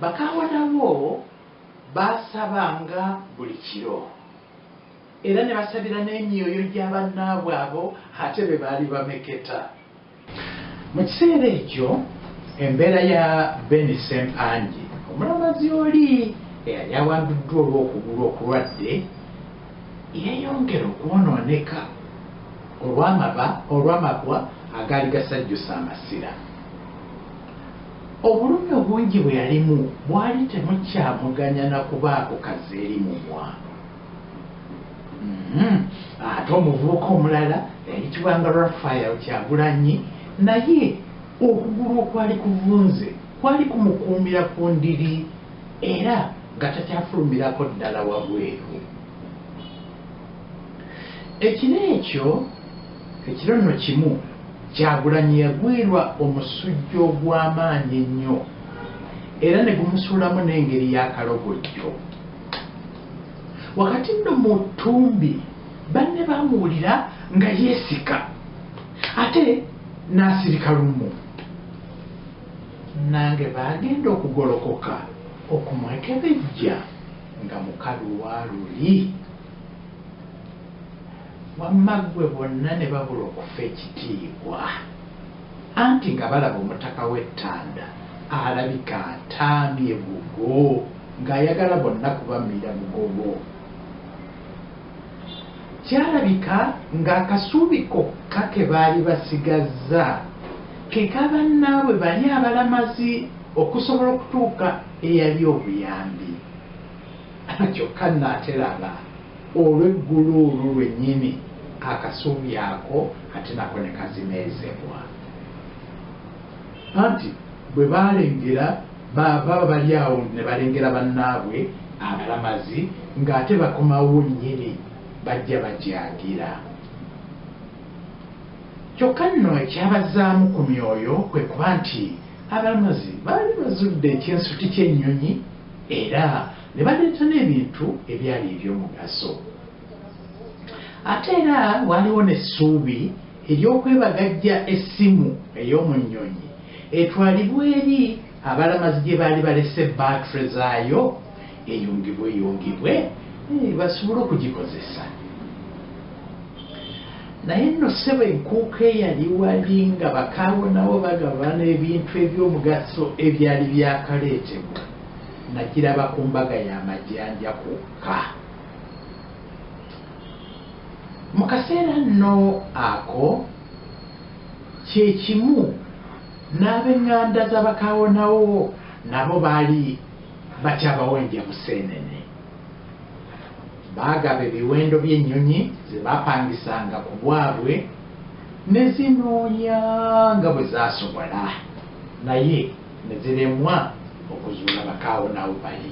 Bakaawonawo baasabanga buli kiro era ne basabira n'emyoyo gya bannaabwe abo ate be baali bameketa. Mu kiseera ekyo embeera ya Ben Ssempangi omulamazi oli eyali awambiddwa olw'okugulu okulwadde yeeyongera okwonooneka olw'amaba olw'amabwa agaali gasajjusa amasira. Obulumi obungi bwe yalimu bwali temukyamuganya na kubaako kazi eri mumwa. Mm-hmm. ate omuvubuka omulala yayitibwanga rafael kyagulanyi naye okugulu okwali kuvunze kwali kumukuumira ku ndiri era nga takyafulumirako ddala wabweru ekiro ekyo ekiro nno kimu kyagulanyi yagwirwa omusujja ogw'amaanyi ennyo era ne gumusuulamu n'engeri y'akalogojjo Wakati nno mu ttumbi, banne baamuwulira nga yeesika ate n'asirika lumu. Nange baagenda okugolokoka okumwekebejja nga mukalu wa luli. Wamma ggwe bonna ne babula okufa ekitiibwa. Anti nga balaba omutaka we Tanda alabika atambye bugo nga ayagala bonna kubamira bugobo. Kyalabika nga akasuubi kokka ke baali basigazza ke ka bannaabwe bali abalamazi okusobola okutuuka eyali obuyambi. Kyokka Nate laba! Olw'eggulu olwo lwennyini, akasubi ako ate nako ne kazineezebwa. Anti bwe baalengera, ba, baba bali awo ne balengera bannaabwe abalamazi, nga ate bakomawo nnyini, bajja bagyagira. Kyokka nno ekyabazaamu ku myoyo kwe kuba nti abalamazi baali bazudde ekinsuti ky'ennyonyi, era Ne baleeta n'ebintu ebyali eby'omugaso. Ate era waaliwo n'essuubi ery'okwebagajja essimu ey'omu nnyonyi etwalibwe eri abalamazi gye baali balese bbaatule zaayo eyungibweyungibwe basobole okugikozesa. Naye nno, ssebo, enkuuka eyali wali nga bakaawonawo bagabana ebintu eby'omugaso ebyali byakaleetebwa. Nakiraba ku mbaga ya Majanja kwokka. Mu kaseera nno ako, kye kimu n'ab'eŋŋanda za bakaawonawo nabo baali bakyabawa endya museenene. Baagaba ebiwendo by'ennyonyi ze baapangisanga ku bwabwe ne zinoonya nga bwe zaasobola, naye. ne ziremwa okuzuula bakaawo n'awo bali.